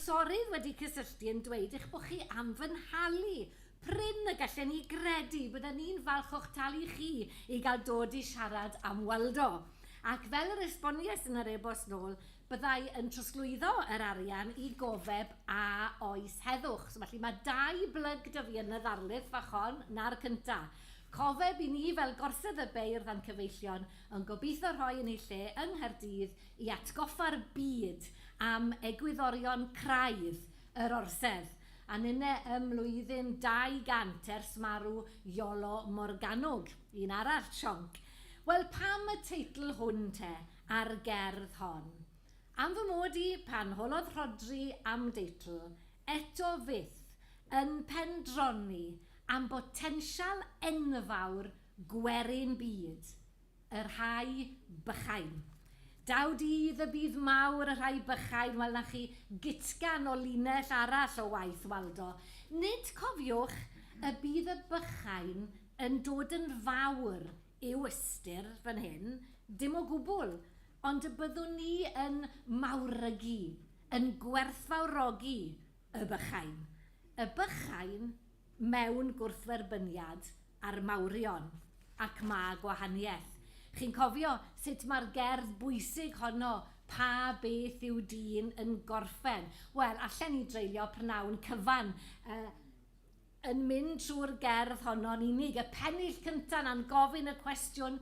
Sori wedi cysylltu yn dweud eich bod chi am fy nhalu. Prin y gallen ni gredu. Bydden ni'n falch o'ch talu chi i gael dod i siarad am Waldo. Ac fel yr esbonies yn yr e-bost nôl, Byddai yn trosglwyddo yr arian i gofeb a oes heddwch. So felly mae dau blyg 'da fi yn y ddarlith fach hon, 'na'r cynta'. Cofeb i ni fel Gorsedd y Beirdd a'n cyfeillion yn gobeithio rhoi yn ei lle yng Nghaerdydd i atgoffa'r byd am egwyddorion craidd yr Orsedd, a ninne ym mlwyddyn 200 ers marw Iolo Morganwg, un arall sionc. Wel pam y teitl hwn te? a'r gerdd hon. Am fy mod i, pan holodd Rhodri am deitl, eto fyth yn pendroni am botensial enfawr gwerin byd y rhai bychain. Daw dydd y bydd mawr y rhai bychain, wel 'na chi gytgan o linell arall o waith Waldo. Nid cofiwch y bydd y bychain yn dod yn fawr yw ystyr fan hyn, dim o gwbl, ond y byddwn ni yn mawrygu, yn gwerthfawrogi y bychain, y bychain mewn gwrthferbyniad â'r mawrion, ac mae gwahaniaeth. Chi'n cofio sut mae'r gerdd bwysig honno, Pa beth yw dyn yn gorffen? Wel, allen ni dreulio prynhawn cyfan yy Yn mynd trwy'r gerdd honno'n unig, y pennill cynta 'na'n gofyn y cwestiwn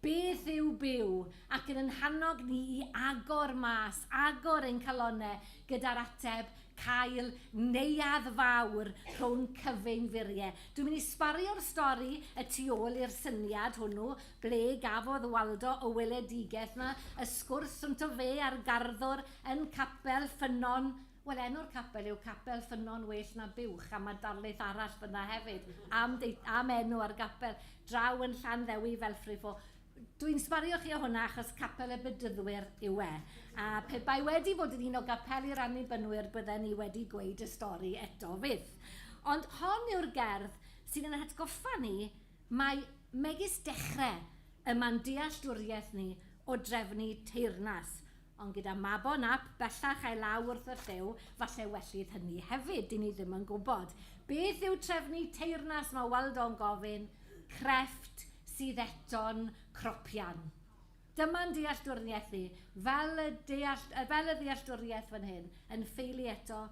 'Beth yw byw? ac yn yn hannog ni i agor mas, agor ein calonnau gyda'r ateb 'Cael neuadd fawr rhwng cyfeinfurie'. Dwi'n mynd i sbario'r stori y tu ôl i'r syniad hwnnw, ble gafodd Waldo y weledigaeth 'na, y sgwrs rhwngto fe a'r garddwr yn Capel Ffynnon Wel, enw'r capel yw Capel Ffynnon Well na Buwch, a mae darlith arall fan'na hefyd am deu- am enw ar y gapel, draw yn Llanddewi, Felfrifo. Dwi'n sbario chi o hwnna achos Capel y Bedyddwyr yw e. A pe bai wedi bod yn un o gapeli'r Annibynwyr bydden ni wedi gweud y stori eto 'fyd. Ond hon yw'r gerdd sy'n ein hatgoffa ni mai megis dechre y mae'n dealltwriaeth ni o drefnu teyrnas, Ond gyda Mabon Ap bellach a'i law wrth y llyw, falle wellid hynny hefyd, dyn ni ddim yn gwybod. Beth yw trefnu teyrnas, mae Waldo'n gofyn, crefft sydd eto'n cropian? Dyma'n dealltwriaeth i, fel y deall, fel y ddealltwriaeth fan hyn, yn ffeili eto,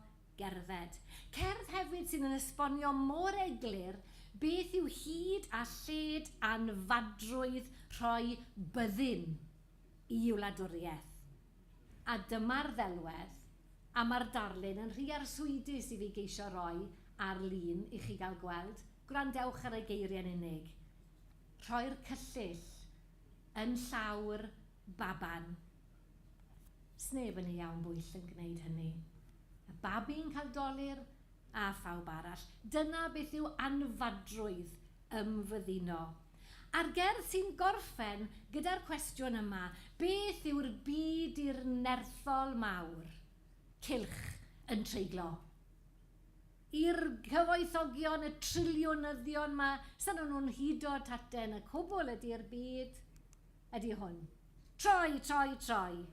gerdded. Cerdd hefyd sydd yn esbonio mor eglur beth yw hyd a lled anfadrwydd rhoi byddin. i wladwriaeth. A dyma'r ddelwedd, a mae'r darlun yn rhy arswydus i fi geisio roi ar lun i chi gael gweld, gwrandewch ar y geiriau'n unig. Rhoi'r cyllyll yn llawr baban. Sneb yn ei iawn bwyll yn gwneud hynny. Y babi'n cael dolur, a phawb arall. Dyna beth yw anfadrwydd ymfyddino. A'r gerdd sy'n gorffen gyda'r cwestiwn yma, beth yw'r byd i'r nerthol mawr? Cylch yn treiglo. I'r cyfoethogion, y triliwnyddion 'ma, sa nhw'n nhw'n hudo taten y cwbl ydi'r byd, ydi hwn. Troi, troi, troi.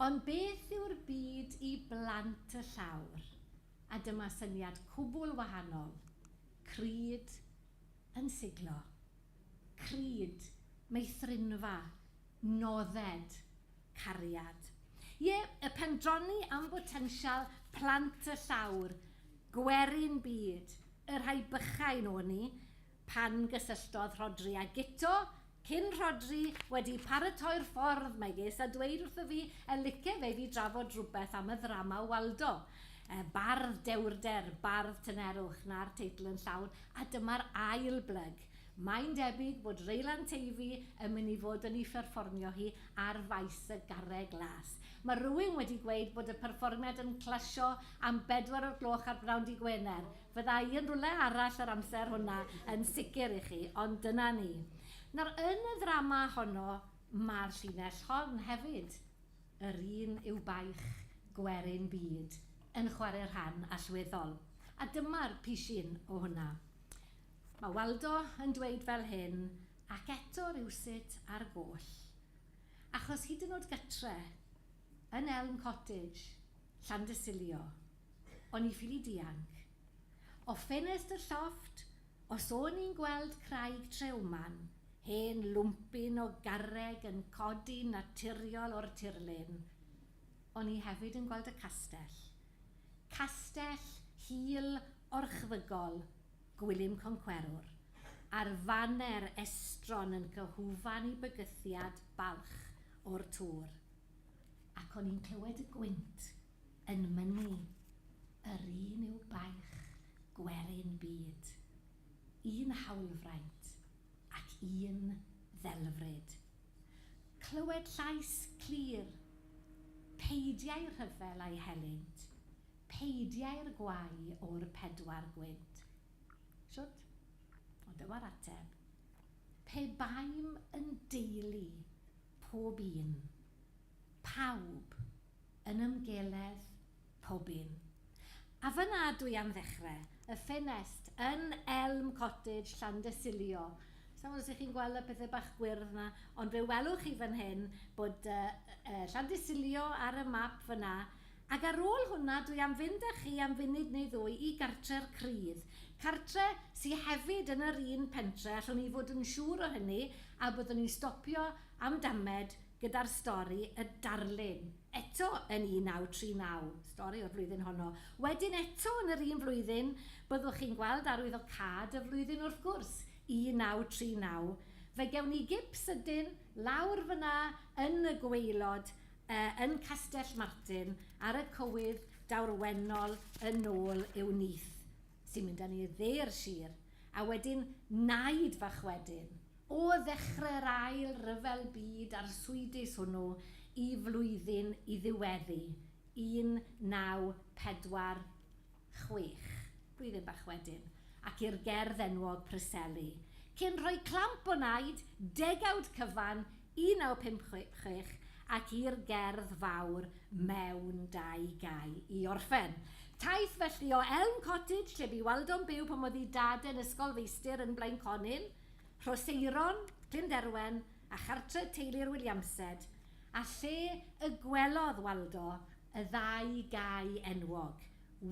Ond beth yw'r byd i blant y llawr? A dyma syniad cwbl wahanol, crud, Yn siglo. Crid. Meithrinfa. Nodded. Cariad. Ie, y pendroni am botensial plant y llawr, gwerin byd, y rhai bychain o'n ni, pan gysylltodd Rhodri a Guto, Cyn Rhodri wedi paratoi'r ffordd mae ges a dweud wrtho fi e lice fe fi drafod rhywbeth am y ddrama o Waldo. E, bardd dewrder, bardd tynerwch, na'r teitl yn llawn, a dyma'r ail blyg. Mae'n debyg bod Reylan Teifi yn mynd i fod yn i pherfformio hi ar Faes y Garreg Las. Mae rhywun wedi gweud bod y perfformiad yn clasio am bedwar o'r gloch ar bnawn dy Gwener. Fyddai yn rwle arall yr amser hwnna yn sicr i chi, ond dyna ni. Nawr, yn y ddrama honno, mae'r llinell hon hefyd, Yr un yw baich gwerin byd, yn chwarae rhan allweddol. A dyma'r pishyn o hwnna. Mae Waldo yn dweud fel hyn, ac eto rywsut ar goll. Achos hyd yn oed gytre, yn Elm Cottage, Llandysilio, O'n i ffili dianc. O ffenest y llofft, os o'n i'n gweld Craig Treumann, hen lwmpyn o garreg yn codi'n naturiol o'r tirlun, o'n i hefyd yn gweld y castell. Castell hil orchfygol Gwilym Concwerwr, a'r faner estron yn fy hwfan i bygythiad balch o'r tŵr. Ac o'n i'n clywed y gwynt. Yn mynnu, yr un yw baich gwerin byd, un hawlfraint ac un ddelfryd. Clywed llais clir, Peidiau rhyfel â'i helynt, peidiau'r gwau o'r pedwar gwynt. Shwt? Ond dyma'r ateb, Pe baem yn deulu, pob un Pawb yn ymgeledd, pob un. A fan'na dw i am ddechrau, y ffenest yn Elm Cottage, Llandysilio. Sa i'n gwybod os 'y chi'n gweld y pethau bach gwyrdd 'na, ond fe welwch chi fan hyn bod Llandysilio ar y map fan'na. Ac ar ôl hwnna, dw i am fynd â chi am funud neu ddwy i Gartre'r Crudd. Cartre sy hefyd yn yr un pentre, allwn i fod yn siŵr o hynny, a byddwn ni'n stopio am damed, gyda'r stori Y Darlun, eto yn 1939, stori o'r flwyddyn honno. Wedyn eto yn yr un flwyddyn, byddwch chi'n gweld arwyddocâd y flwyddyn wrth gwrs, 1939, fe gewn ni gip sydyn lawr fan'na yn y gwaelod yn Castell Martin ar y cywydd dawrwennol yn ôl i'w nyth. sy'n mynd â ni i dde'r sir, a wedyn naid fach wedyn, o ddechrau'r ail ryfel byd arswydus hwnnw i flwyddyn i ddiweddu, 1946, blwyddyn bach wedyn, ac i'r gerdd enwog Preseli, cyn rhoi clamp o naid, degawd cyfan, 1956 ac i'r gerdd fawr mewn dau gau i orffen. Taith felly o Elm Cottage, lle bu Waldo'n byw pan oedd ei dad yn ysgolfeistr yn Blaenconyn, Rhoseirôn, Glynderwen a chartref teulu'r Williamsed, a lle y gwelodd Waldo y ddau gau enwog,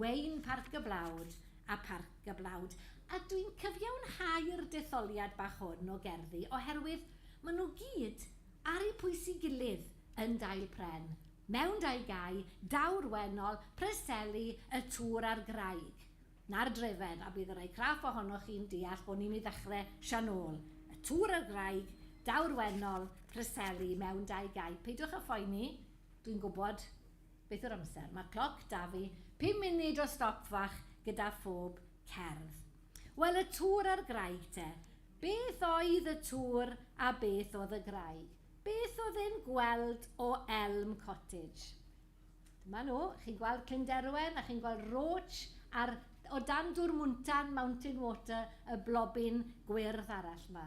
Wayne Parc y Blawd a Parc y Blawd a dwi'n cyfiawnhau'r detholiad bach hwn o gerddi oherwydd maen nhw gyd ar eu pwys i gilydd yn Dail Pren, Mewn Dau Gae, Daw'r Wennol, Preseli, Y Tŵr a'r Graig. Na'r Drefedd, a bydd y rhai craff ohonoch chi'n deall bod ni'n ei ddechrau sian ôl. Y Tŵr a'r Graig, Daw'r Wennol, Preseli, Mewn Dau Gae. Peidiwch â phoeni, dwi'n gwybod Beth yw'r amser? Mae'r cloc 'da fi, pum munud o stop fach gyda phob cerdd. Wel, y tŵr a'r graig te. Beth oedd y tŵr a beth oedd y graig? Beth oedd e'n gweld o Elm Cottage? Dyma nhw, chi'n gweld Clyn Derwen a chi'n gweld Roach a'r, o dan dŵr Mwntân, Mountain Water, y blobyn gwyrdd arall 'ma.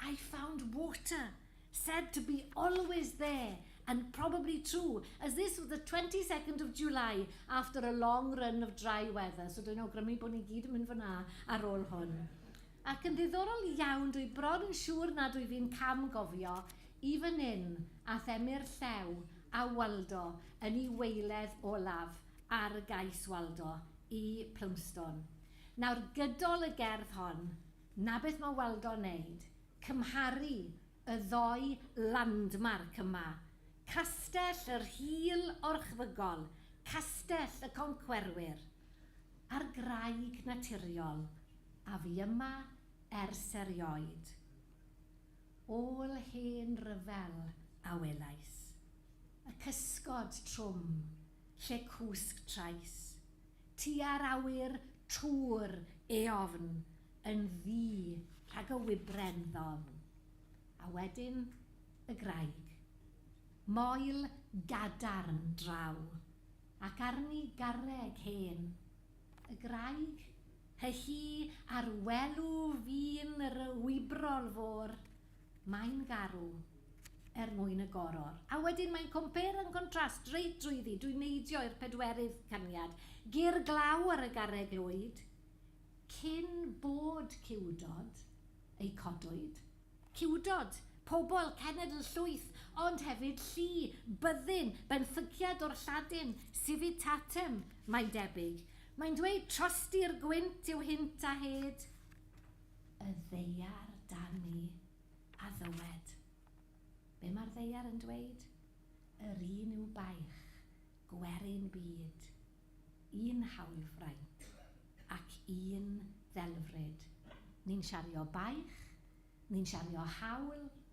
I found water, said to be always there and probably true as this was the 22nd of July after a long run of dry weather, so dwi'n awgrymu bod ni gyd yn mynd fan'na ar ôl hwn. Ac yn ddiddorol iawn, dwi bron yn siŵr nad wyf i'n cam gofio i fan hyn a themmu'r llew a Waldo yn ei weiledd olaf ar y gais Waldo i Plumstone. Nawr gydol y gerdd hon, 'Na beth mae Waldo'n wneud, cymharu y ddou landmark yma, Castell y Rhyl orchfygol, Castell y Concwerwyr, a'r graig naturiol a fu yma ers erioed, ôl hen ryfel, a welais y cysgod trwm lle cwsg trais. tua'r awyr trw'r eofn yn ddu rhag y wybren ddofn. A wedyn y graig. Moel gadarn draw, ac arni garreg hen. Y graig, hy-hi, ar welw fin yr wybrol fôr. Mae'n garw. Er mwyn y goror. A wedyn mae'n compare and contrast reit drwyddi, dwi'n neidio i'r pedwerydd caniad. Gur glaw ar y garreg lwyd. Cyn bod ciwdod eu codwyd. Ciwdod, pobl, cenedl, llwyth, ond hefyd llu, byddin, benthyciad o'r Lladin, civitatem, mae'n debyg. Mae'n dweud trosti'r gwynt yw hynt a hed. y ddaear dan ni, a ddywed, Be mae'r ddaear yn dweud? Yr un yw baich, gwerin byd, un hawlfraint, ac un ddelfryd. Ni'n siario baich, ni'n siario haul,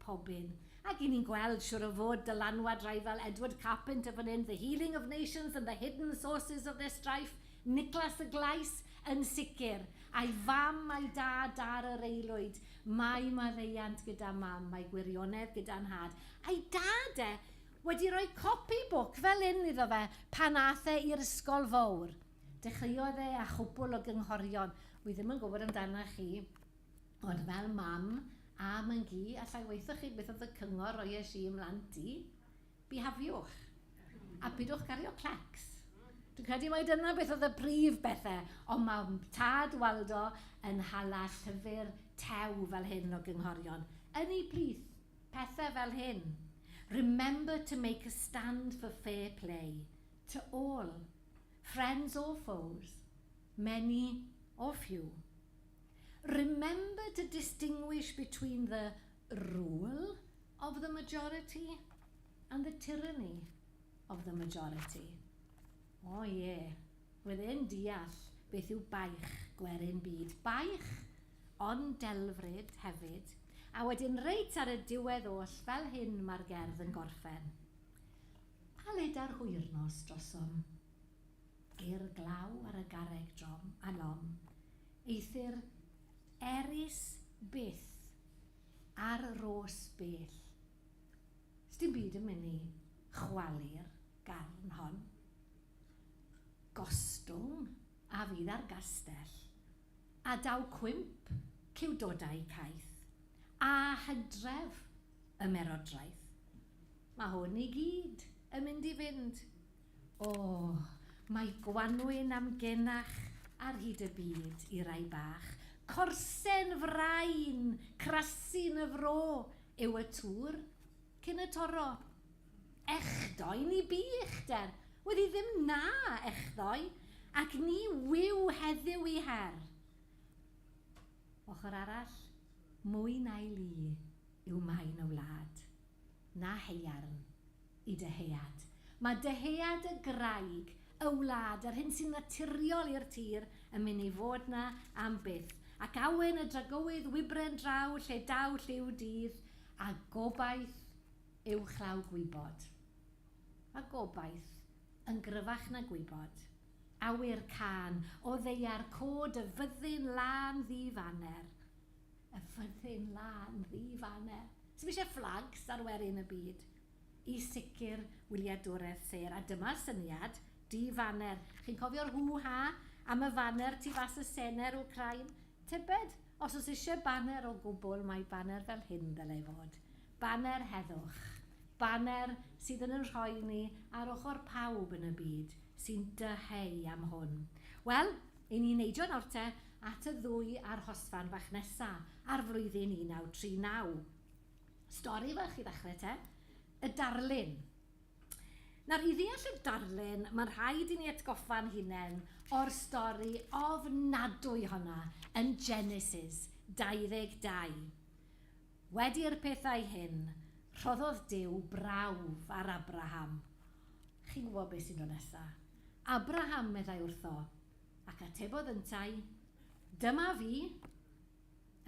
pob un. Ac i ni'n gweld, siŵr o fod, dylanwad rai fel Edward Carpenter fan hyn, The Healing of Nations and the Hidden Sources of their Strife, Niclas y Glais, yn sicr, a'i fam a'i dad ar yr aelwyd, mae maddeuant gyda mam, mae gwirionedd gyda nhad, a'i dad e, wedi rhoi copi bwc fel hyn iddo fe pan ath e i'r ysgol fowr. Dechreuodd e â chwpwl o gynghorion, wi ddim yn gwybod amdana chi, Ond fel mam a myn-gu, allai waethoch chi beth oedd y cyngor roiais i i'm mhlant i? Bihafiwch! A pidwch cario clecs! Dwi'n credu mai dyna beth oedd y prif bethau, ond mae tad Waldo yn hala llyfr tew fel hyn o gynghorion yn ei plith, pethau fel hyn, Remember to make a stand for fair play to all, friends or foes, many or few. Remember to distinguish between the rule of the majority and the tyranny of the majority. O oh, ie, yeah. roedd e'n deall beth yw baich gwerin byd. Baich, ond delfryd hefyd. A wedyn reit ar y diwedd oll, fel hyn mae'r gerdd yn gorffen. A leda'r hwyrnos drosom. I'r glaw ar y garreg drom a nom, eithr erys byth ar rôs bell. S'dim byd yn myn' i chwalu'r garn hon. Gostwng a fydd ar gastell, a daw cwymp ciwdodau caeth, a hydref ymerodraeth. Ma' hwn i gyd yn mynd i fynd O, mae gwanwyn am genach ar hyd y byd i rai bach. Corsen frain, crasyn y fro yw y tŵr cyn y toro. Echdoe ni bu uchder, wedi ddim na echdoe, ac ni wyw heddiw i her. Ochr arall, mwy na'i lu, yw maen y wlad. Na haearn i dyhead. Mae dyhead y graig, y wlad, yr hyn sy'n naturiol i'r tir yn mynd i fod 'na am byth, ac awen y dragowydd wybren draw lle daw lliw dydd, a gobaith uwchlaw gwybod. A gobaith, yn gryfach na gwybod. Awyr cân, o ddeiar, cod y fyddin lân ddi-faner. Y fyddin lân ddi fane. Sdim eisiau fflags ar werin y byd. Y sicr wyliadwredd sêr a dyma'r syniad, du faner. Chi'n cofio'r hŵ ha am y faner tu fas y sener Wcrain? Tybed, os oes eisiau baner o gwbl mae baner fel hyn ddylai fod. Baner heddwch. Baner sydd yn yn rhoi ni ar ochr pawb yn y byd sy'n dyheu am hwn. Wel, Yn un neidio Norte at y ddwy arhosfan fach nesa ar flwyddyn 1939. Stori fach i ddechrau te. Y darlun. Nawr, i ddeall y darlun, mae'n rhaid i ni atgoffa'n hunain o'r stori ofnadwy honna yn Genesis 22. Wedi i'r pethau hyn, rhoddodd Duw brawf ar Abraham. Chi'n gwybod beth sy'n dod nesa. Abraham meddai wrtho, ac atebodd yntau, Dyma fi!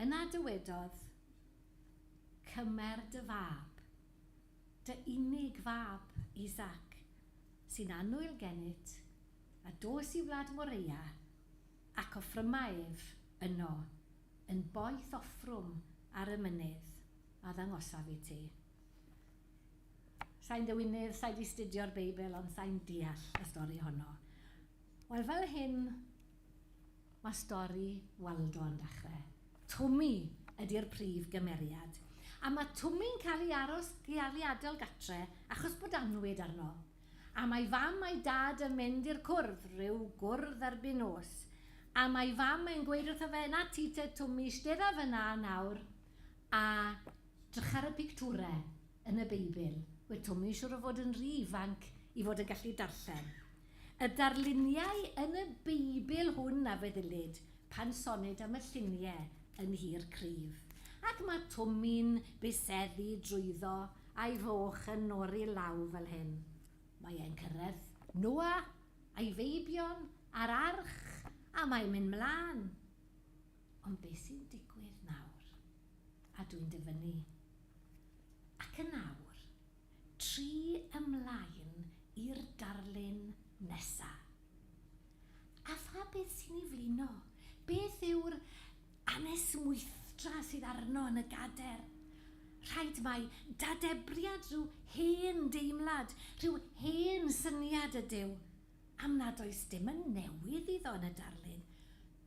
Yna dywedodd, Cymer dy fab, dy unig fab, Isaac, sy'n annwyl gennyt, a dos i wlad Moreia, ac offryma ef yno, yn boeth offrwm ar y mynydd a ddangosaf i ti. Sai'n ddywinydd, sai 'di 'studio'r Beibl, ond sai'n deall y stori honno. Wel, fel hyn mae stori Waldo yn dechre. Twmi ydi'r prif gymeriad, a mae Twmi'n cael ei aros geariadol gatre achos bod annwyd arno. Am a'i fam a'i dad yn mynd i'r cwrdd, rhyw gwrdd erbyn nos. Am a'i fam yn gweud wrtho fe, 'Na ti te Twmi, 'stedda fynna nawr a Drych ar y pictwrau yn y Beibl. Wyt Twmi'n siŵr o fod yn rhy ifanc i fod yn gallu darllen y darluniau yn y Beibl hwn a feddylid pan sonid am y lluniau yn nhir cryf. Ac mae Twmi'n byseddu drwyddo a'i foch yn nori law fel hyn. Mae e'n cyrraedd Noah a'i feibion a'r arch a mae'n mynd 'mlaen. Ond be sy'n digwydd nawr? A dwi'n dyfynnu. Ac yn awr, tri ymlaen i'r darlun nesa. A pha beth sy'n ei flino? Beth yw'r anesmwythdra sydd arno yn y gader? Rhaid mai dadebriad rhyw hen deimlad, rhyw hen syniad ydyw, am nad oes dim yn newydd iddo yn y darlun,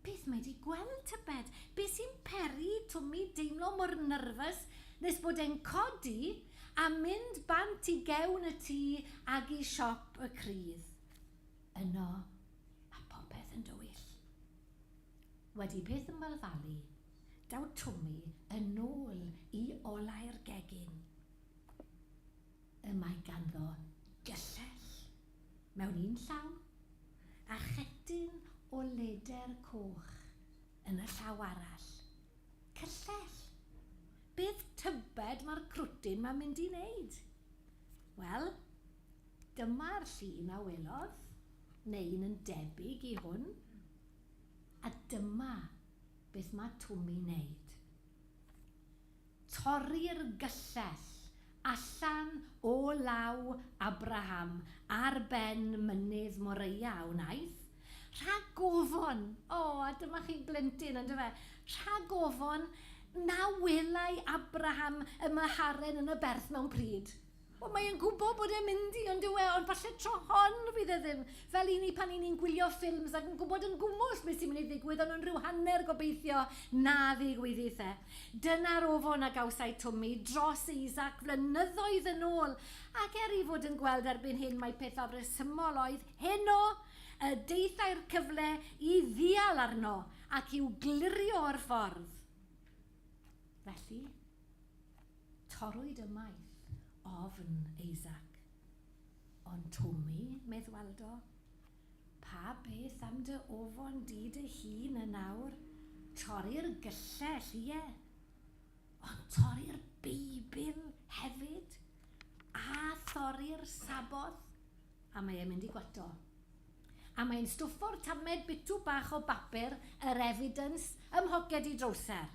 Beth mae di gweld tybed? Be sy'n peri Twm i deimlo mor nyrfys nes bod e'n codi a mynd bant i gewn y tŷ ag i siop y crydd? Yno mae popeth yn dywyll. Wedi peth ymwelfalu, daw Twmi yn ôl i olau'r gegin. Y mae ganddo gyllell mewn un llaw, a chedyn o leder coch yn y llaw arall. Cyllell! Beth tybed mae'r crwtyn 'ma'n mynd i wneud? Wel, dyma'r llun a welodd, neu un yn debyg i hwn, a dyma beth mae Twmi'n wneud. Torri'r gyllell allan o law Abraham ar ben mynydd Moreia a wnaeth, rhag ofon, o, a dyma chi blentyn, on'd yfe, rhag ofon na welai Abraham y meharen yn y berth mewn pryd. Wel, mae e'n gwybod bod e'n mynd i, ond yw e, ond falle tro hon fydd e ddim. Fel i ni pan i ni'n gwylio ffilms ac yn gwybod yn gwmws beth sy'n mynd i ddigwydd, ond yn rhyw hanner gobeithio na ddigwyddith e. Dyna'r ofon a gawsai Twmi dros Isaac flynyddoedd yn ôl, ac er ei fod yn gweld erbyn hyn mai pethau rhesymol oedd heno, y daethai'r cyfle i ddial arno ac i'w glirio o'r ffordd. Felly? Torrwyd ymaith ofn Isaac. Ond Twmi, medd Waldo, pa beth am dy ofon di dy hun yn awr? Torri'r gyllell, ie, ond torri'r Beibl hefyd, a thorri'r Sabboth, a mae e'n mynd i gwato. A mae'n stwffo'r tamed bitw bach o bapur yr evidence ym mhoced ei drowser.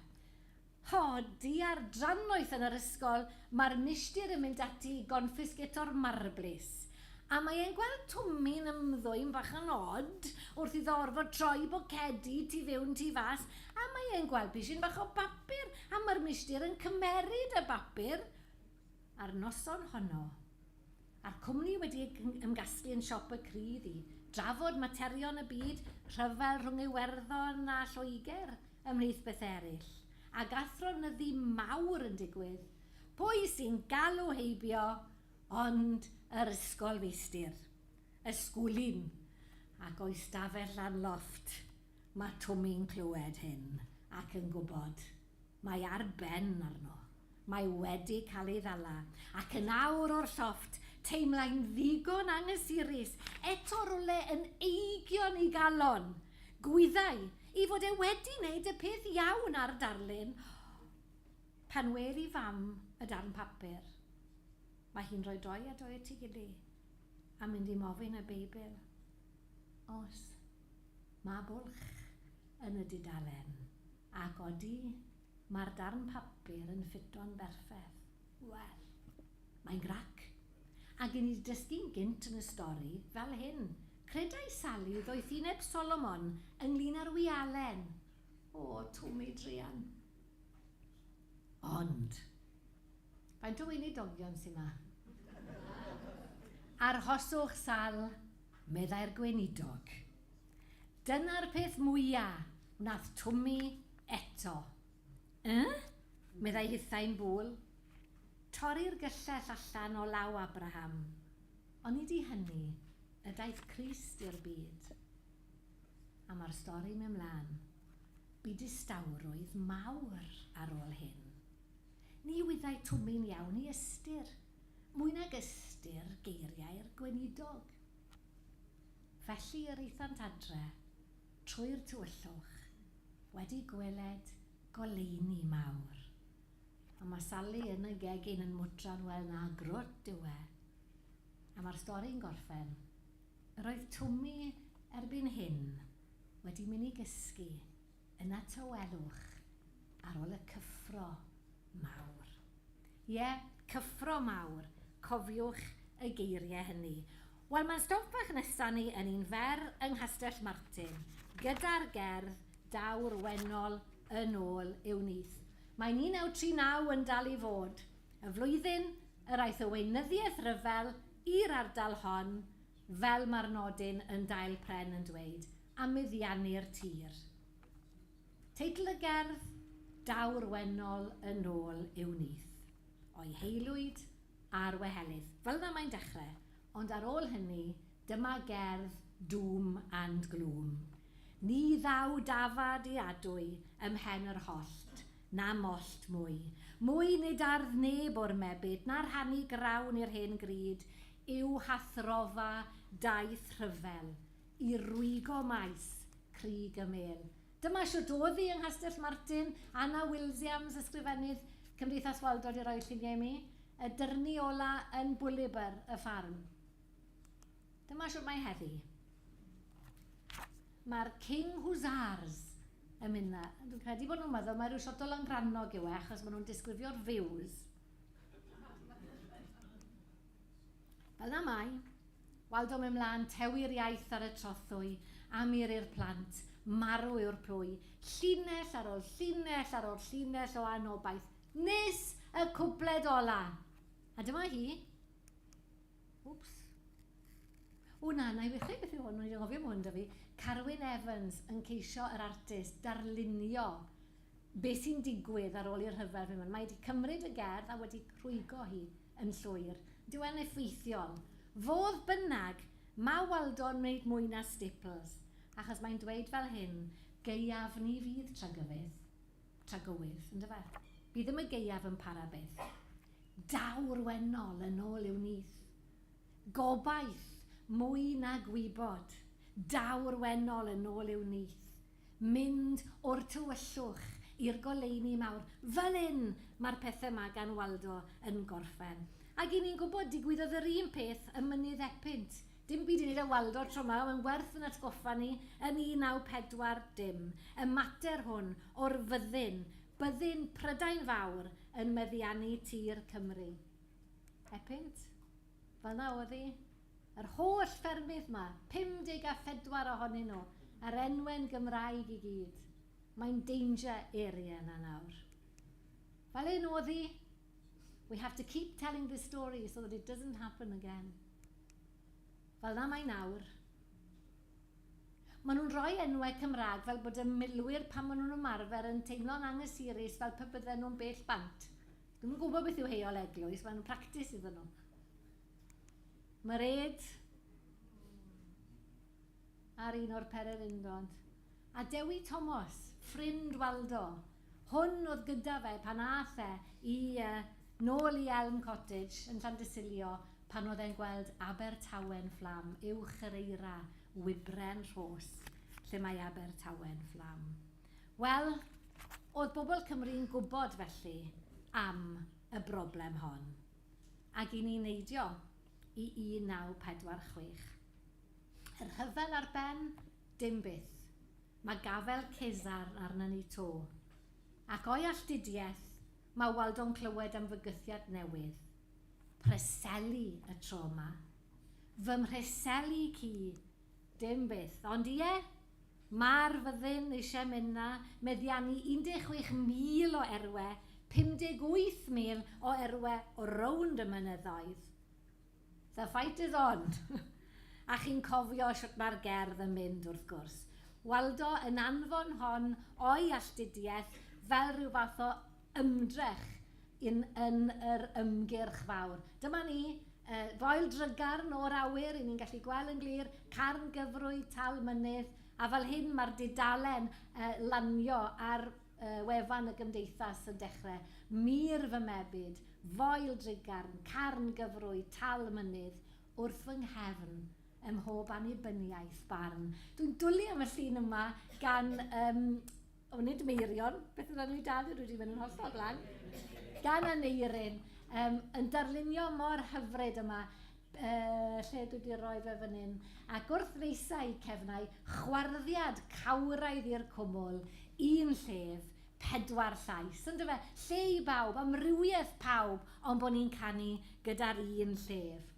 Ho, diar drannoeth yn yr ysgol, mae'r milltir yn mynd ati i gonffisgeto'r marblis. A mae e'n gweld Twmmi'n ymddwyn bach yn od wrth iddo orfod troi bocedi tu fewn tu fas, a mae e'n gweld pishyn bach o bapur, a mae'r milltir yn cymeryd y bapur. A'r noson honno. a'r cwmni wedi ei gymgasglu yn siop y crydd i drafod materion y byd, rhyfel rhwng Iwerddon a Lloegr, ymhlith bethau eraill, ac athronyddu mawr yn digwydd, pwy sy'n galw heibio ond yr ysgolfeistr, ysgwlyn, ac o'i stafell lan lofft, mae Twmi'n clywed hyn ac yn gwybod. Mae ar ben arno. Mae wedi cael ei ddala, ac yn awr o'r llofft, teimlai'n ddigon anghysurus, eto rywle yn eigion ei galon. Gwyddai i fod e wedi neud y peth iawn a'r darlun, pan wer i fam y darn papur, mae hi'n rhoi doi a doi at ei gily, a mynd i mofyn y Beibl os ma bwlch yn y dudalen. Ac odi, mae'r darn papur yn ffito'n berffeth. Wel, mae'n grac. Ac i ni dysgu'n gynt yn y stori, fel hyn, credai Sali ddoethineb Solomon ynglŷn â'r wialen. O, twm ei druan. Ond, faint o weinidogion sy 'ma? Arhoswch, Sal, meddai'r gweinidog. Dyna'r peth mwya, wnaeth Twmi eto. Yy? meddai hithau'n bul. Torri'r gyllell allan o law Abraham. Onid i hynny y daeth Crist i'r byd? A mae'r stori'n mynd 'mlaen. Bu distawrwydd mawr ar ôl hyn. Ni wyddai Twmi'n iawn i ystyr, mwy nag ystyr geiriau'r gweinidog. Felly yr aethant adre trwy'r tywyllwch wedi gweled goleuni mawr. A ma' Sali yn y gegin yn mwtran wel na grwt yw e. A ma'r stori'n gorffen. Yr oedd Twmi erbyn hyn wedi myn' i gysgu Yna tawelwch ar ol y cyffro mawr. Ie, cyffro mawr, cofiwch y geirie hynny. Wel, ma'n stop bach nesa ni yn un fer yng Nghastell Martin, gyda'r gerdd Daw'r Wennol yn ôl i'w nyth. Mae 1939 yn dal i fod, y flwyddyn yr aeth y weinyddiaeth ryfel i'r ardal hon, Fel mae'r nodyn yn Dail Pren yn dweud am meddiannu'r tir. Teitl y gerdd, Daw'r Wennol yn ôl i'w nyth, o'i heilwyd a'r wehelydd. Fel yna mae'n dechrau, ond ar ôl hynny, dyma gerdd doom and gloom. Ni ddaw dafad i adwy ym mhen yr hollt, Na mollt mwy. Mwy nid ardd neb o'r mebyd, na rhannu grawn i'r hen gryd, yw hathrofa daith rhyfel, i rwygo maes crug y mêl. Dyma shwt o'dd hi yng Nghastell Martin, Anna Wilsiams, Ysgrifennydd Cymdeithas Waldod i roi lluniau i mi, y dyrnu ola yn Bwlibr y Ffarm. Dyma shwt mae heddi. Mae'r King Hussars yn mynd na. Dwi'n credu bod nhw'n meddwl mae rhyw shot o langrannog yw e achos maen nhw'n disgrifio'r views. Fel na mai. Waldo mynd mlaen, tewi'r iaith ar y trothwy, am ir i'r plant, marw yw'r plwy, llinell ar ol llinell ar ol llinell o anobaith, nes y cwpled ola! A dyma hi. Wps. O na, na i ddechrau beth yw hwn, o'n i 'di anghofio bod hwn 'da fi. Carwyn Evans yn ceisio yr artist darlunio be sy'n digwydd ar ôl i'r rhyfel fynd mlaen. Mae 'di cymryd y gerdd a wedi rhwygo hi yn llwyr. Dyw e'n effeithiol. Fodd bynnag, ma' Waldo'n wneud mwy na Staples, achos mae'n dweud fel hyn, Gaeaf ni fydd tragywydd, tragywydd, yndyfe? Bydd ddim y gaeaf yn para byth. Daw'r wennol yn ôl i'w nyth. Gobaith, mwy na gwybod. Daw'r wennol yn ôl i'w nyth. Mynd o'r tywyllwch i'r goleuni mawr. Fel 'yn mae'r pethau 'ma gan Waldo yn gorffen. Ac 'yn ni'n gwybod, digwyddodd yr un peth ym Mynydd Epynt. Dim byd i wneud â Waldo tro 'ma, ond mae'n werth ein atgoffa ni yn 1940, y mater hwn o'r fyddin, Byddin Prydain Fawr yn meddiannu tir Cymru. Epynt? Felna oedd hi. Yr holl ffermydd 'ma, 54 ohonyn nhw, a'r enwe'n Gymraeg i gyd. Mae'n danger area yna nawr. Fel hyn oedd hi. We have to keep telling this story so that it doesn't happen again. Felna mae nawr. Maen nhw'n rhoi enwau Cymraeg fel bod y milwyr pan maen nhw'n ymarfer yn teimlo'n anghysurus fel pe bydden nhw'n bell bant. Dwi ddim yn gwybod beth yw heol eglwys, maen nhw'n practis iddyn nhw. Mae'r ed ar un o'r pererindod. A Dewi Tomos, ffrind Waldo, Hwn oedd gyda fe pan aeth e i yy nôl i Elm Cottage yn Llandysilio pan oedd e'n gweld Abertawe'n fflam uwch yr eira wibren rhos lle mae Abertawe'n fflam. Wel, oedd bobl Cymru'n gwybod felly am y broblem hon ag i ni neidio i 1946. Y rhyfel ar ben? Dim byth. Mae gafael Cesar arna ni 'to. Ac o'i alltudiaeth, mae Waldo'n clywed am fygythiad newydd. Preseli y tro 'ma. Fy mhreseli ci! Dim byth. Ond ie, ma'r fyddin eisiau mynd 'na, meddiannu 16,000 o erwe, 58,000 o erwe o rownd y mynyddoedd. The fight is on! A chi'n cofio shwt mae'r gerdd yn mynd wrth gwrs. Waldo yn anfon hon o'i alltudiaeth fel rhyw fath o ymdrech yn yn yr ymgyrch fawr. Dyma ni, yy Foel Drygarn o'r awyr, ry'n ni'n gallu gweld yn glir, Carn Gyfrwy, Tal Mynydd, a fel hyn mae'r dudalen yy lanio ar Y wefan y Gymdeithas yn dechrau, Mur fy mebyd, Foel drugarn, Carn gyfrwy, Tal mynydd, Wrth fy nghefn, Ym mhob annibyniaeth, Barn. Dwi'n dwli am y llun yma gan, yym, o nid Meirion, beth yw enw hi dal, dwi 'di mynd yn hollol blank, gan Aneurin, yym, yn darlunio mor hyfryd yma, Pe lle dwi 'di roi fe fan hyn. Ac wrth feisau cefnau, chwarddiad cawraidd i'r cwmwl, un llef, pedwar llais, on'd yfe? Lle i bawb, amrywiaeth pawb, ond bo' ni'n canu gyda'r un llef.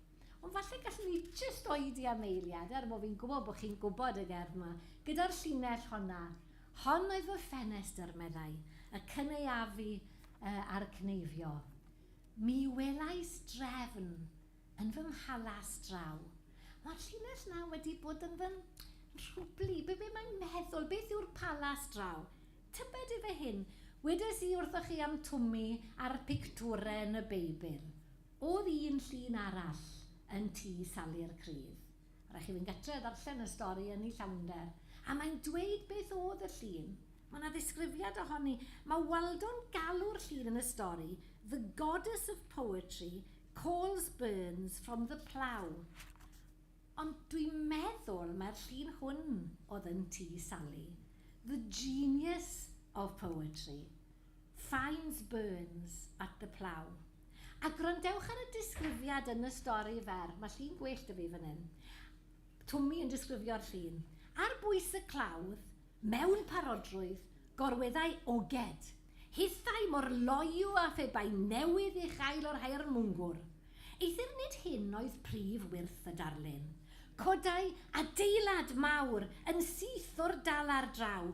Ond falle gallwn ni jyst oedi am eiliad, er bo' fi'n gwybod bo' chi'n gwybod y gerdd 'ma, gyda'r llinell honna, Hon oedd fy ffenestr, meddai, y cynaeafu a'r cneifio. Mi welais drefn yn fy mhalas draw. Mae'r llinell 'na wedi bod yn fy nhrwblu. Be, be mae'n meddwl? Beth yw'r palas draw? Tybed ife hyn? Wedes i wrthoch chi am Twmi a'r pictwre yn y Beibl. O'dd un llun arall yn Tŷ Sali'r Crydd. Rhaid chi fynd gartre a ddarllen y stori yn ei llawnder. A mae'n dweud beth oedd y llun. Mae 'na ddisgrifiad ohoni. Mae Waldo'n galw'r llun yn y stori 'The goddess of poetry calls Burns from the plough'. Ond dwi'n meddwl mai'r llun hwn oedd yn Tŷ Sali, 'The genius of poetry'. Signs Burns at the Plough. A gwrandewch ar y disgrifiad yn y stori fer, mae llun gwell 'da fi fan hyn, Twmi yn disgrifio'r llun, ar bwys y clawdd, mewn parodrwydd, gorweddai oged, hithau mor loyw â phe bai newydd ei chael o'r haearn mwngwr. Eithr nid hyn oedd prif wyrth y darlun. Codai adeilad mawr yn syth o'r dalar draw,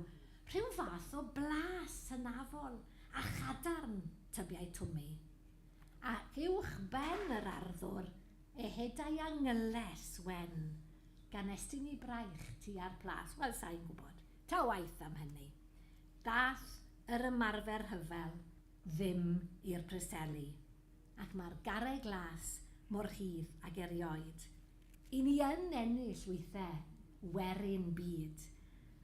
Rhyw fath o blas hynafol a chadarn tybiai Twmi. A uwch ben yr arddwr ehedai a ngylles wen gan estyn i braich tua'r plas. Wel, sa i'n gwybod. Ta waeth am hynny. Daeth yr ymarfer rhyfel ddim i'r Preseli, ac mae'r garreg las mor rhydd ag erioed. Y ni yn ennill wythe, werin byd.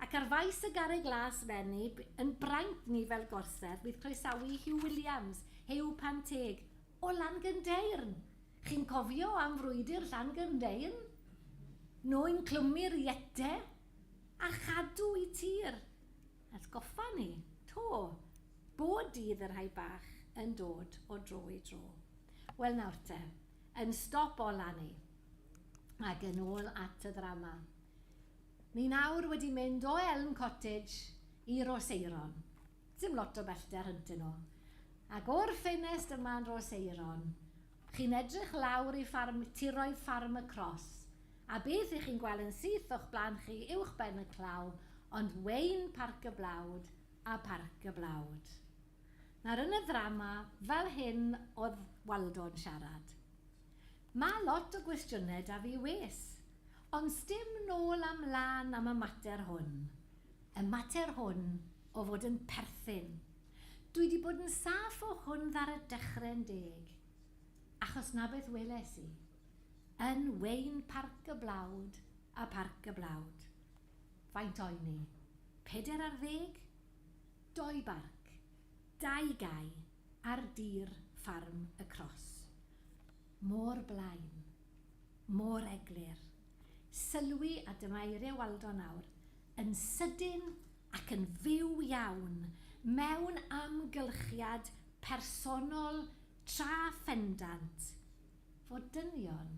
Ac ar faes y garreg las fenni, yn braint ni fel gorsedd, bydd croesawu Huw Williams, Huw Pan Teg, o Langynddeyrn! Chi'n cofio am frwydr Llangynddeyrn? Noin clwmu'r iete a chadw i tir! Atgoffa ni, 'to, bob dydd y rhai bach yn dod o dro i dro. Wel nawr te, Yn stop o Lanny. Ac yn ôl at y ddrama. Ni nawr wedi mynd o Elm Cottage i Rhoseirôn. Dim lot o bellter hyntyn nhw. Ac o'r ffenest yma yn Rhoseirôn, chi'n edrych lawr i ffarm, tiroedd Ffarm y Cros, a beth i chi'n gwel yn syth o'ch blaen chi uwchben y claw ond Wayne Parc y Blawd a Parc y Blawd. Nawr yn y ddrama fel hyn oedd Waldo'n siarad. Ma lot o gwestiyne da fi wes. Ond sdim nôl a mlan am y mater hwn. Y mater hwn o fod yn perthyn. Dwi di bod yn saff o hwn ddar y dechre'n deg. Achos na beth weles i. Yn wein parc y blawd a parc y blawd. Faint oen i? Peder ar ddeg? Doi barc, dau gae ar dir ffarm y Cros. Môr Blaen. Môr Eglur. Sylwi a dyma eiriau Waldo nawr, yn sydyn ac yn fyw iawn, mewn amgylchiad personol tra phendant fod dynion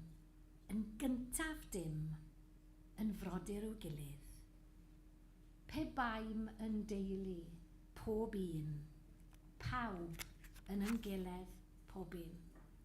yn gyntaf dim yn frodyr i'w gilydd. Pe baem yn deulu, pob un. Pawb yn ymgeledd, pob un.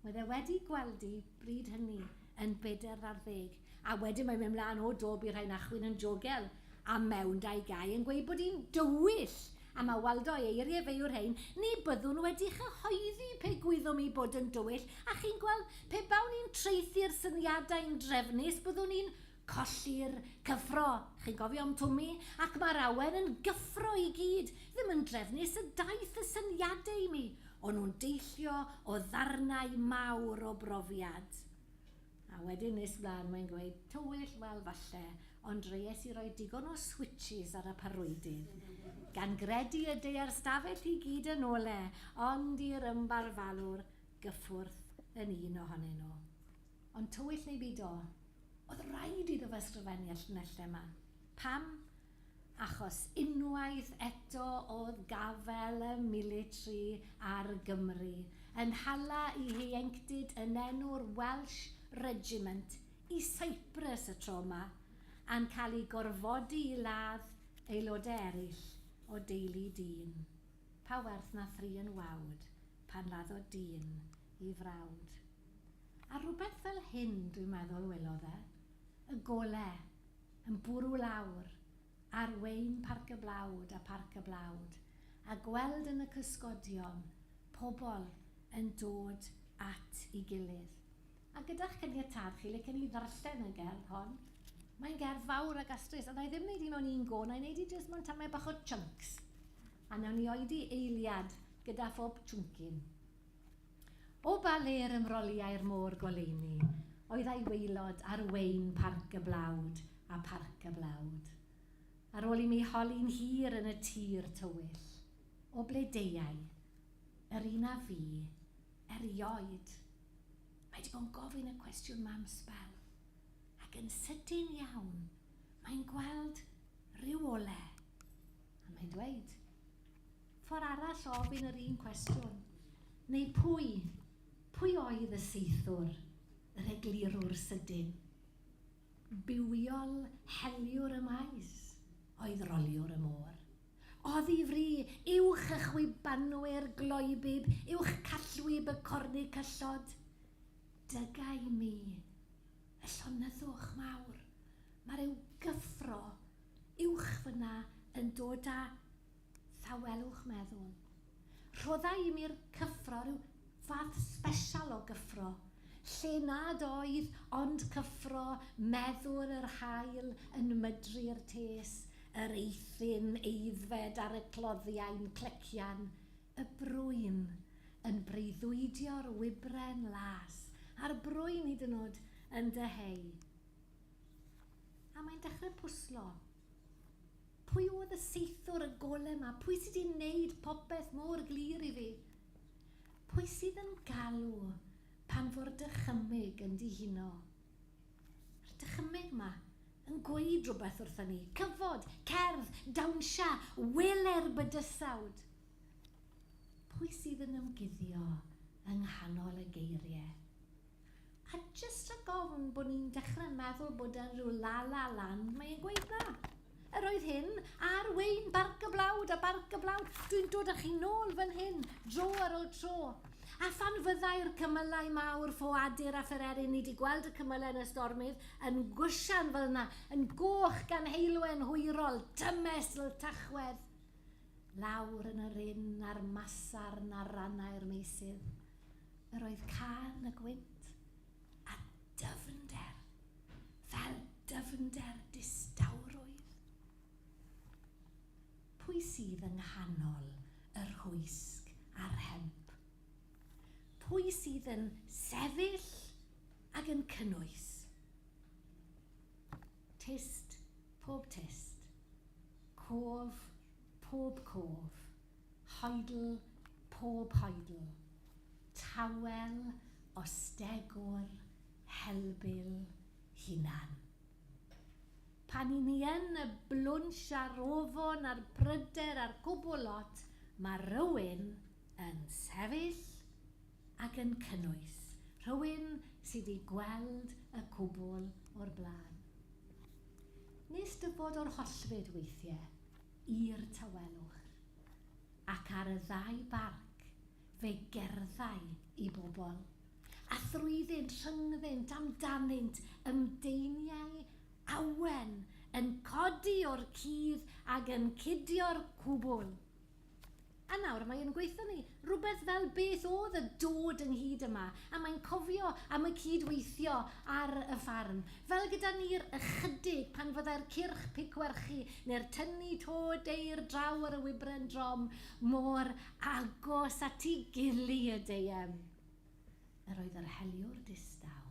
Mae fe wedi gweldi bryd hynny yn bedr ar ddeg, a wedyn mae'n mynd mlaen, O do, bu rhai'n achwyn yn jogel, a mewn dau gau yn gweud bod hi'n dywyll! A mae Waldo, ei eirie fe yw'r rhein, Ni byddwn wedi chyhoeddi pe gwyddom i bod yn dywyll, a chi'n gweld, pe bawn i'n traethu'r syniadau'n drefnus, byddwn i'n Colli'r cyffro, chi'n cofio am Twmi? Ac mae'r awen yn gyffro i gyd, ddim yn drefnus y daeth y syniadau i mi, o'n nhw'n deillio o ddarnau mawr o brofiad. A wedyn nes mlaen mae'n gweud, tywyll, wel falle, ond dreies i roi digon o switshis ar y parwydydd, gan gredu y deuai'r stafell i gyd yn ole, ond i'r ymbarfalwr gyffwrdd yn un ohonyn nhw. Ond tywyll neu byd o, oedd raid iddo fo ysgrifennu y llinellau 'ma. Pam? Achos unwaith eto oedd gafael y military ar Gymru yn hala i heuenctid yn enw'r Welsh Regiment i Cyprus y tro 'ma, a'n cael i gorfodi i ladd aelodau eraill o deulu dyn. Pa werth na thri yn wawd pan laddodd dyn i frawd? A rhywbeth fel hyn, dwi'n meddwl, welodd e, y gole, yn bwrw lawr, ar wein Parc y Blawd a Pharc y Blawd, a gweld yn y cysgodion, pobl yn dod at i gilydd. A gyda'ch caniatâd chi, licen i ddarllen y gerdd hon. Mae'n gerdd fawr a gastrus, a wna i ddim wneud hi mewn un go, wna i wneud hi jyst mewn tamaid bach o chunks, a wnawn ni oedi eiliad gyda phob chwncyn. O ba le yr ymroliai'r môr goleuni oedd a'i waelod ar wein Parc y Blawd a Pharc y Blawd? Ar ôl i mi holi'n hir yn y tir tywyll, o ble deuai? Yr un a fi, erioed. Mae 'di bod yn gofyn y cwestiwn 'ma am sbel, ac yn sydyn iawn, mae'n gweld rhyw ole, a mae'n dweud. Ffordd arall o ofyn yr un cwestiwn. Neu pwy, pwy oedd y saethwr, yr eglurwr sydyn? Bywiol heliwr y maes oedd roliwr y môr. Oddi fri uwch y chwibanwyr gloebib, uwch callwyb y cornicyllod. Dygau mi, y llonyddwch mawr, mae rhyw gyffro uwch fyna yn dod â Tawelwch meddwl. Rhodda i mi'r cyffro, rhyw fath sbesial o gyffro, lle nad oedd ond cyffro meddwl yr haul yn mydru'r tes, yr eithin aeddfed ar y cloddiau'n clecian, y brwyn yn breuddwydio'r wybren las, a'r brwyn hyd yn o'd yn dyheu. A mae'n dechrau pwslo. Pwy oedd y saethwr, y gole 'ma? Pwy sy 'di neud popeth mor glir i fi? Pwy sydd yn galw pan fo'r dychymyg yn dihuno? A'r dychymyg 'ma yn gweud rhywbeth wrthon ni. Cyfod! Cerdd! Dawnsia! Wele'r bydysawd! Pwy sydd yn ymguddio yng nghanol y geirie? A jyst rhag ofn bod ni'n dechrau meddwl bod e'n rhyw la-la land, mae e'n gweud na. Yr oedd hyn ar wein barc y blawd a barc y blawd, dwi'n dod â chi nôl fan hyn, dro ar ôl tro. A phan fyddai'r cymylau mawr, ffoadur a phererin, ni di gweld y cymylau yn y stormydd, yn gwsian fel yna, yn goch gan heulwen hwyrol, dymesl Tachwedd, lawr yn yr ynn a'r masarn ar rannau'r meysydd. Yr oedd cân y gwynt a dyfnder fel dyfnder distawrwydd. Pwy sydd yng nghanol y rhwysg a'r rhemp? Pwy sydd yn sefyll ag yn cynnwys? Tyst pob tyst, cof pob cof. Hoidl, pob hoidl. Tawel, ostegwr, helbul, hunan. Pan i ni yn y blwnsh a'r ofon a'r pryder a'r cwbwl lot, ma' rhywun yn sefyll ac yn cynnwys, rhywun sy 'di gweld y cwbwl o'r bla'n. Nes dy fod o'r hollfyd weithie. i'r tawelwch, ac ar y ddau barc fe gerddai i bobl, a thrwyddynt, rhyngddynt, amdanynt, ymdeiniai awen yn codi o'r cudd ag yn cudio'r cwbl. A nawr mae yn gweithio arni, rhywbeth fel beth oedd y dod ynghyd yma, a mae'n cofio am y cyd-weithio ar y ffarm, fel gyda ni'r ychydig pan fyddai'r cyrch pigwerchu neu'r tynnu to deir draw ar y wybren drom mor agos at ei gily y deuem. Yr oedd yr heliwr distaw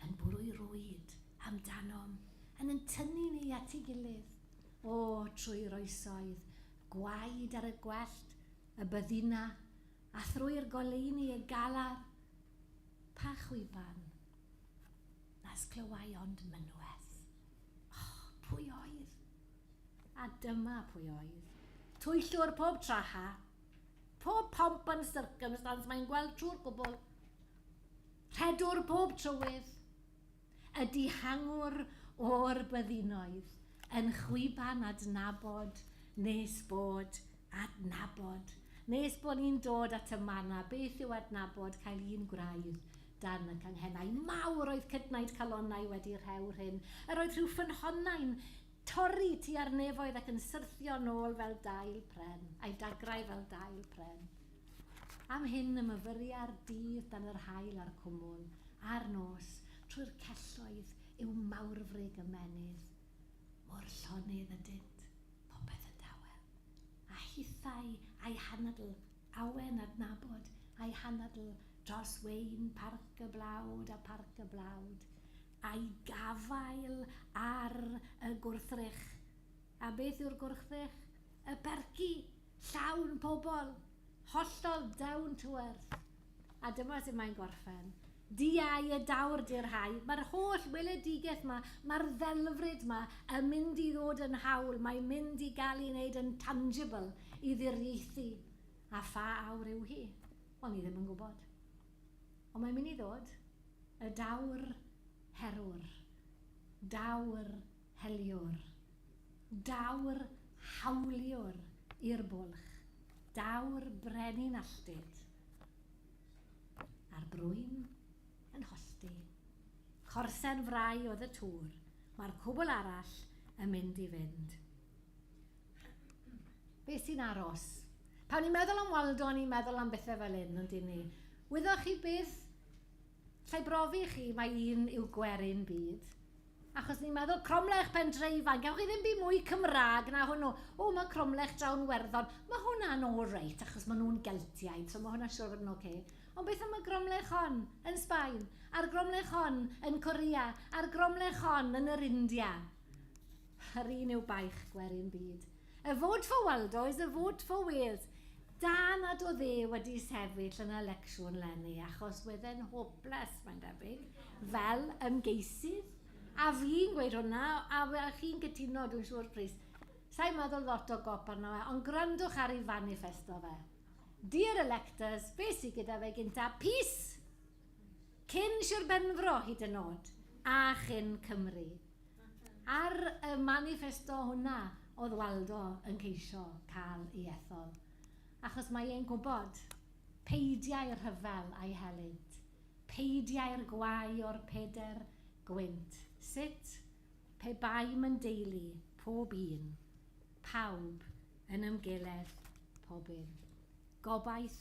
yn bwrw'i rwyd amdanom, yn yn tynnu ni at ei gilydd. O, trwy'r oesoedd, gwaed ar y gwellt, y byddina, a thrwy'r goleuni y galar, pa chwiban nas clywai ond mynwes. O, pwy oedd? A dyma pwy oedd. Twyllwr pob traha, pob pomp and circumstance mae'n gweld trwy'r cwbl. Rhedwr pob trywydd, y dihangwr o'r byddinoedd, yn chwiban adnabod nes bod, adnabod, nes bod ni'n dod at y manna, beth yw adnabod, cael un gwraidd dan y canghennau mawr oedd cydnaid calonnau wedi rhew'r hyn yr oedd rhyw ffynhonnau'n torri tua'r nefoedd ac yn syrthio nôl fel dail pren, ai dagrau fel dail pren. Am hyn y myfyria'r dydd dan yr haul a'r cwmwl, a'r nos, trwy'r celloedd, yw mawrfrig ymennydd. Mor llonydd ydynt, popeth yn dawel. A hithau a'i hanadl, awen adnabod a'i hanadl dros wein Parc y Blawd a Pharc y Blawd, a'i gafael ar y gwrthrych. A beth yw'r gwrthrych? Y percy! Llawn pobl! Hollol down to earth! A dyma sut mae'n gorffen. Diau y dawr di'r rhai. Mae'r holl weledigaeth 'ma, mae'r ddelfryd 'ma yn mynd i ddod yn hawl, mae'n mynd i gael ei wneud yn tangible i ddiriaethu. A pha awr yw hi? Wel, ni ddim yn gwybod. Ond mae'n mynd i ddod. Y dawr herwr. Dawr Heliwr. Daw'r hawliwr i'r bwlch, daw'r brenin alltud, a'r brwyn yn holltu. Corsen frau oedd y tŵr, mae'r cwbl arall yn mynd i fynd. Beth sy'n aros? Pan ni'n meddwl am Waldo, ni'n meddwl am bethau fel hyn, ond dyn ni? Wyddoch chi beth Sai brofi i chi mai un yw gwerin byd. Achos ni'n meddwl, cromlech pen dre ifanc, gewch chi ddim byd mwy Cymraeg na hwnnw. O, mae cromlech Drawn Werddon, mae hwnna'n all right, achos maen nhw'n Geltiaid, so mae hwnna'n siŵr o fod yn ok. Ond beth am y gromlech hon yn Sbaen, a'r gromlech hon yn Korea, a'r gromlech hon yn yr India? Yr un yw baich gwerin byd. A vote for Waldo is a vote for Wales. Da nad oedd e wedi sefyll yn y lecsiwn 'leni achos wedd e'n hopeless, mae'n debyg, fel ymgeisydd. A fi'n gweud hwnna, a chi'n cytuno, dwi'n siŵr, Prys. Sa i'n meddwl lot o gop arno fe, ond gwrandwch ar ei faniffesto fe. Dear electors, be sy gyda fe gynta? Peace! Cyn Sir Benfro hyd yn oed, a chyn Cymru. Ar y maniffesto hwnna oedd Waldo yn ceisio cael ei ethol, achos mae e'n gwybod, peidiai'r rhyfel a'i helynt, peidiai'r gwau o'r peder gwynt, sut, pe baem yn deulu, pob un, pawb, yn ymgeledd, pobyn. Gobaith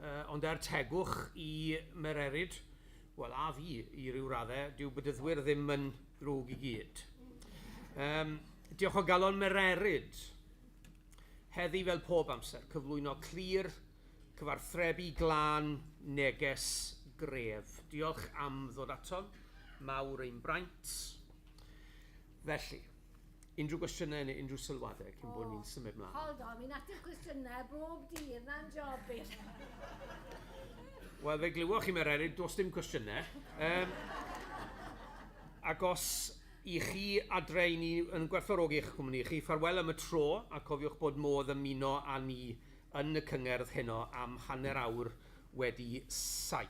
Uh, ond er tegwch i Mererid, wel, a fi i ryw raddau, dyw bydyddwyr ddim yn ddrwg i gyd. Um, diolch o galon Mererid. Heddi fel pob amser, cyflwyno clir, cyfarthrebu glân, neges gref. Diolch am ddod atom, mawr ein braint. Felly, unrhyw gwestiynau neu unrhyw sylwadau cyn bod ni'n symud mlaen? Hold on, fi'n ateb cwestiynau bob dydd, na'n job fi. Wel, fe glywoch chi, Mae'r Eryr, does dim cwestiynau. Um, ac os i chi adre i ni yn gwerthfawrogi eich cwmni chi, ffarwel am y tro, a cofiwch bod modd ymuno â ni yn y cyngerdd heno am hanner awr wedi saith.